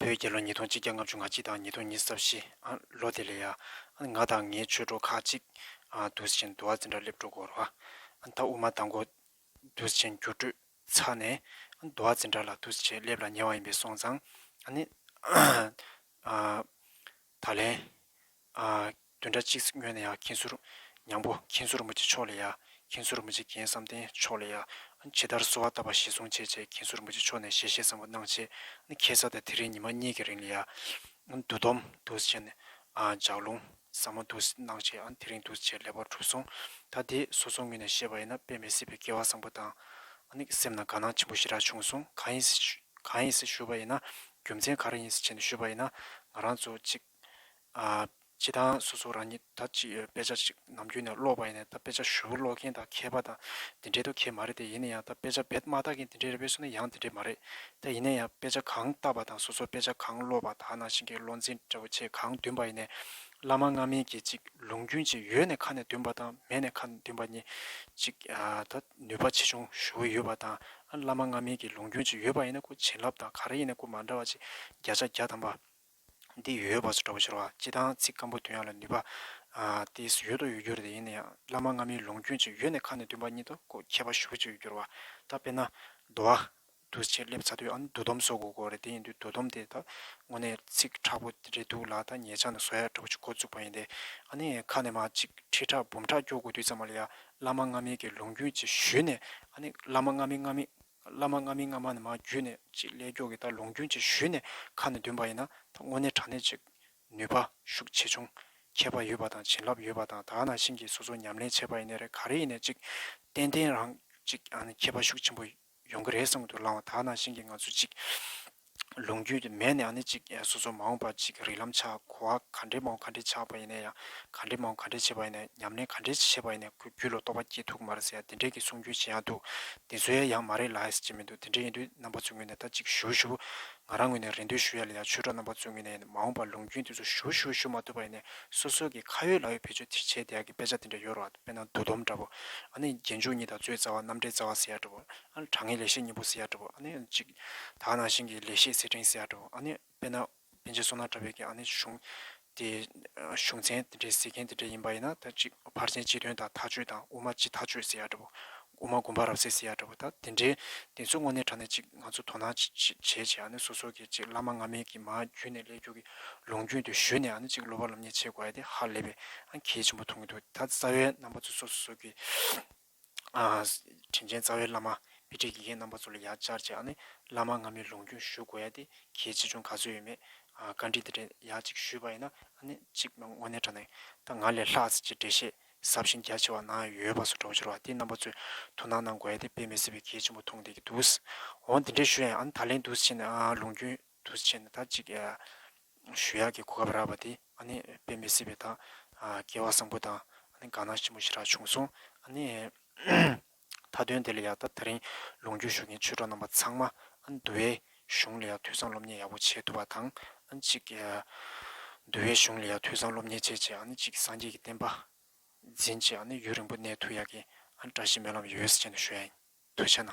བོད་རྒྱལ་ལོ་ཉིས་སྟོང་གཅིག་བརྒྱ་ལྔ་བཅུ་ང་གཅིག་དང་ཉིས་སྟོང་གཉིས་སོ་བཞི། ལོ་དེ་ལས་ཡ། ང་དང་ངའི་ཆོས་གྲོགས་ཁག་གཅིག། དུས་ཆེན་དུ་བ་འཛིན་གྲྭར་སླེབས་འགྲོ་སྐོར་བ། ད་དབུ་མ་དང་གོ། དུས་ཆེན་རྒྱུགས་སྤྲོད། ཚར་ནས། དུ་བ་འཛིན་གྲྭ་ལ་དུས་ཆེན་སླེབས་ལ་ཉེ་བ་ཡིན་པས་སོང་ཙང། ཨ་ནི། ད་ལན། དོན་འདྲ་གཅིག་སྨྱོས་ན་ཡང་མཁྱེན་ཟུར། མྱང་པོ་མཁྱེན་ཟུར་རྨུ་ཆེ་མཆོག་ལས་ཡ། མཁྱེན་ཟུར་རྨུ་ཆེ་རྒན་བསམ་གཏན་མཆོག་ལས་ཡ། ཇི་ལྟར་གསོ་བ་བཏབ་པ་གཞི་བཟུང་བྱས་རྗེས་མཁྱེན་ཟུར་རྨུ་ཆེ་མཆོག་ནས་ཞལ་བཞེས་བཟང་པོ་གནང་རྗེས། ཁྱད་ས་དང་དེ་རིང་ཉི་མ་གཉིས་ཀྱི་རིང་ལ་ཡ། འདུ་སྡོམ་འདུ་བྱེད་ནས། ལྗགས་ལུང་ཟབ་མོ་འདུ་གནང་བྱས། དེ་རིང་འདུ་བྱེད་ལེགས་པར་གྲུབ་སོང། ད་དེ་སོ་སོ་ངོས་ནས་བཤད་པ་ཡིན་ན་དཔེ་མི་སྲིད་པའི་སྐལ་བ་བཟང་པོ་དང། སེམས་ན་དགའ་སྣང་ཆེན་པོ་ཞིག་རག་བྱུང་སོང་གང་ཡིན་སེ་ཞུས་པ་ཡིན་ན། རྒྱུ་མཚན་ག་རེ་ཡིན་ཟེར་བྱས་ནས་ཞུས་པ་ཡིན་ན། ང་རང་ཚོ་གཅིག་སྤྱི་དང་སོ་སོ་རང་ཉིད་ད་ཅི་ཡོད་དཔེ་ཆ་གཅིག་ནམ་རྒྱུན་ནས་ཀློག་པ་ཡིན་ནས་ད་དཔེ་ཆ་བཞི་བོ་ཀློག་མཁན་དང་མཁས་པ་དང་དེ་འདྲའི་དོ་གལ་མ་རེད་དེ་ཡིན་ན་ཡང་ད་དཔེ་ཆ་བེད་མ་བཏགས་མཁན་དེ་འདྲའི་རེད་བས་སོ་ན་ཡང་དེ་འདྲའི་མ་རེད་དེ་ཡིན་ན་ཡང་དཔེ་ཆ་གང་བཏགས་པ་དང་སོ་སོ་དཔེ་ཆ་གང་ཀློག་པ་དག་ནང་བཞིན་གྱི་བློ་འཛིན་འདྲ་བོ་ཆེ་གང་འདུན་པ་ཡིན་ནས། བླ་མ་སྔ་མིན་གྱི་གཅིག་ལུང་རྒྱུན་ཅིག་ཡོད་ནས་ཁ་ནས་འདུན་པ་དང་མེད་ནས་ཁ་ནས་འདུན་པ་གཉིས་གཅིག་ད་ནུས་པ་ཆེ་ཆུང་ཞུ་གི་ཡོད་པ་དང་ཨ་བླ་མ་སྔ་མིན་གྱི་ལུང་རྒྱུན་ཅིག་ཡོད་པ་ཡིན་ན་སྐུ་བྱིན་རླབས་དང་ག་རེ་ཡིན་ན་སྐུ་མ་འདྲ་བ་ཅིག་བརྒྱ་ཆ་བརྒྱ་ཐམ་པ། འདི་ཡོད་བ་སོགས་འདྲ་བོ་ཤོར་བ་སྤྱི་དང་ཚིག་སྐམ་པོ་དོན་ཡོད་ལ་ནུས་པ། ཏི་སི་ཡོད་དོ་ཡོད་འགྱུར་དེ་ཡིན་ན་ཡང་བླ་མ་སྔ་མིན་ལུང་རྒྱུན་ཅིག་ཡོད་ནས་ཁ་ནས་འདུན་པ་ཉིད་དུ་སྐུ་མཁས་པ་ཞུ་བ་ཅིག་ཡོད་འགྱུར་བ། ད་དཔེར་ན། འདུ་བ། འདུ་བྱེད་སླེབས་ཚ་དུས་ཨ་ནི་འདུ་སྡོམ་བཟོ་དགོས་གོ་རེད་དེ་ཡིན་དུས་འདུ་སྡོམ་དེ་ད་དངོས་གནས་ཚིག་ཁྲག་པོ་རེད་འདུག་ལ་ད་ངེད་ཅག་ནས་བཟོ་ཡ་འདྲ་བོ་ཅིག་འགོ་བཙུགས་པ་ཡིན་ཏེ། ཨ་ནི་ཁ་ནས་མ་གཅིག་ཁྲི་ཁྲག་འབུམ་ཕྲག་སྐྱོ་དགོས་དུས་ཙམ་མ་ལ་ཡ་བླ་མ་ལྔ་མིན་གྱི་ལུང་རྒྱུན་ཅེས་ཞུས་ནས། ཨ་ནི། བླ་མ་ལྔ་མིན་ལྔ་མིན། བླ་མ་ལྔ་མིན་ལྔ་མ་ནི་མ་བརྒྱུད་ནས་ཅེས་ཀླད་སྐྱོགས་ཀྱི་ལྟར་ལུང་རྒྱུན་ཅེས་ཞུས་ནས་ཁ་ནས་འདོན་པ་ཡིན་ན་ད་དངོས་གནས་དྲང་གནས་ཅིག། ནུས་པ། ཤུགས་ཆེ་ཆུང། མཁས་པ་ཡོད་པ་དང་བྱིན་རླབས་ཡོད་པ་དང་དག་ན་ཤིང་གིས་སོ་སོར་ཉམས་ལེན་བྱས་པ་ཡིན་ནས་རེད་ག་རེ་ཡིན་ནས་ཅིག། ཏན་ཏན་རང་ཅིག་ཨ་ནི་མཁས་པ་ཤུགས་ཆེན་པོ། ཡོང་གི་རེད་བསམ་གྱི་འདུག་ལངས་བ་དག་ནང་བཞིན་གྱི་ང་ཚོ་ཅིག་ལུང་རྒྱུད་མེད་ནའང་ནི་ཅིག་སོ་སོ་མ་འོངས་པར་ཅིག་རིག་ལམ་ཆགས་གོ་བ་ག་འདྲའི་མ་འོངས་ག་འདྲའི་ཆགས་པ་ཡིན་ན་ཡང་ག་འདྲའི་མ་འོངས་ག་འདྲའི་བྱེད་པ་ཡིན་ན་ཉམས་ལེན་ག་འདྲའི་བྱེད་པ་ཡིན་ན་ཁོས་རྒྱུད་ལ་རྟོགས་པ་སྐྱེས་ཐུག་གི་མ་རེད་ཟེར་ཡང་དེ་འདྲའི་གི་གསུང་རྒྱུན་ཇི་ཡང་འདུག་དེ་ཚོ་ཡ་ཡང་མ་རེད་ལགས་ཟེར་གྱི་མི་འདུག་དེ་འདྲ་ཡིན་དུས་རྣམ་པ་ཚོའི་ངོས་ནས་ད་ཅིག་ཞུ་ཞུ་ང་རང་ངོས་ནས་རེ་འདུན་ཞུ་ཡ་ལ་ཡང་ཆོས་གྲོགས་རྣམ་པ་ཚོའི་ངོས་ནས་མ་འོངས་པར་ལུང་རྒྱུན་དེ་ཚོ་ཞུ་ཞུ་ཞུ་མ་ཐུབ་པ་ཡིན་ནས་སོ་སོ་གི་ཁ་ཡོད་ལག་ཡོད་བེད་སྤྱོད་ཐིག་ཆེ་དེ་ཡག་གི་དཔེ་ཆ་དེ་འདྲ་ཡོད་རོགས། དཔེར་ན་འདུ་འདོམས་འདྲ་བོ། ཨ་ནི་རྒྱན་འཇུག་གཉིས་དང་གཙོའི་རྩ་བ་རྣམ་འགྲེལ་རྩ་བ་ཟེར་ཡག་འདྲ་བོ། ཨ་ནི་དྲང་ངེས་ལེགས་བཤད་གཉིས་པོ་ཟེར་ཡག་འདྲ་བོ། ཨ་ནི་གཅིག། དག་སྣང་ཞིང་གི་ལེགས་བཤད་གསེར་ཕྲེང་ཟེར་ཡག་འདྲ་བོ། ཨ་ནི། དཔེར་ན། དཔེ་ཆའི་སོ་ནག་འདྲ་བོའི་གྱི་ཨ་ནི་གཞུང། དེ། གཞུང་ཚན་དེ་འདྲའི་ཟེར་མཁན་དེ་འདྲ་ཡིན་པ་ཡིན་ན་ད་གཅིག་ཕར་ཕྱིན་སྤྱི་དོན་དང་ཐག་གཅོད་དང་དབུ་མ་སྤྱི་ཐག་གཅོད་ཟེར་ཡག་འདྲ་བོ། དབུ་མ་དགོན་པ་རབ་གསལ་སི་ཡ་འདྲ་བོ་དང་དེ་འདྲའི་དེ་ཚོ་དངོས་གནས་དྲ་གནས་ཅིག་ང་ཚོ་དོ་སྣང་བྱེད་བྱེད་ཨ་ནི་སོ་སོ་གི་ཅིག་བླ་མ་སྔ་མའི་གི་མ་རྒྱུད་ནས་ལས་རྒྱུ་གི་ལུང་རྒྱུན་དུ་བཞུད་ནས་ཨ་ནི་ཅིག་སློབ་པ་ལམ་ཉེས་བྱེད་དགོས་ཨ་དེ་ཧ་ལས་པའི་ཨ་གལ་ཆེན་པོ་མཐོང་གི་འདུག་ད་རྩ་བའི་རྣམ་པ་ཚོ་སོ་སོ་གི་ཨ་དྲིན་ཅན་རྩ་བའི་བླ་མ་དཔེ་ཁྲིད་དགེ་རྒན་རྣམ་པ་ཚོ་ལ་ཡག་བཅར་བྱེད་ཨ་ནི་བླ་མ་སྔ་མའི་ལུང་རྒྱུན་བཞུད་དགོས་ཨ་དེ་གལ་ཆེ་ཆུང་ག་ཚོད་ཡོད་མེད་བཀའ་དྲིན་དེ་འདྲ་ཡག་ཅིག་ཞུས་པ་ཡིན་ན་ཨ་ནི་ཅིག་ང་དངོས་གནས་དྲ་གནས་དང་ང་ལས་ལྷག་ཟེར་གྱི་འགྲེལ་བཤད་ཟབ་ཞིང་རྒྱ་ཆེ་བ་ན་ཡོད་པ་སོགས་གྲོགས་བྱོལ་བ་དེ་རྣམ་པ་ཚོས་དོ་སྣང་གནང་དགོས་ཡ་དེ་དཔེ་མི་སྲིད་པའི་གལ་ཆེན་པོ་མཐོང་བསྡད་ཀྱི་འདུག་འོང་དེ་འདྲའི་ཞུ་ཡ་ཨ་ད་ལན་དུས་ཆེན་ལུང་རྒྱུན་དུས་ཆེན་ད་ཅིག་ཞུ་ཡ་གི་གོ་སྐབས་རག་པ་དེ་ཨ་ནི་དཔེ་མི་སྲིད་པའི་ད་སྐལ་བ་བཟང་པོ་དང་གང་ན་ཆེན་པོ་ཞིག་རག་བྱུང་སོང་ཨ་ནི། མཐའ་དོན་དེ་ལ་ཡང་ད་རིང་ལུང་རྒྱུད་ཞུགས་མཁན་ཆོས་གྲོགས་རྣམ་པ་ཚང་མ་འདུལ་བའི་གཞུང་ལ་ཡང་དུས་བཟང་སློབ་གཉེར་ཡག་པོ་བྱེད་ཐུབ་པ་དང་གཅིག། འདུལ་བའི་གཞུང་ལ་ཡང་དུས་བཟང་སློབ་གཉེར་བྱས་རྗེས་གཅིག་སངས་རྒྱས་ཀྱི་བསྟན་པ་འཛིན་རྗེས་ཡུན་རིང་པོ་གནས་ཐུབ་ཡག་གི་བཀྲ་ཤིས་སྨོན་ལམ་ཡོད་ས་ཅན་དུ་ཞུ་ཡ་ཡིན། དུ་བྱས་ན།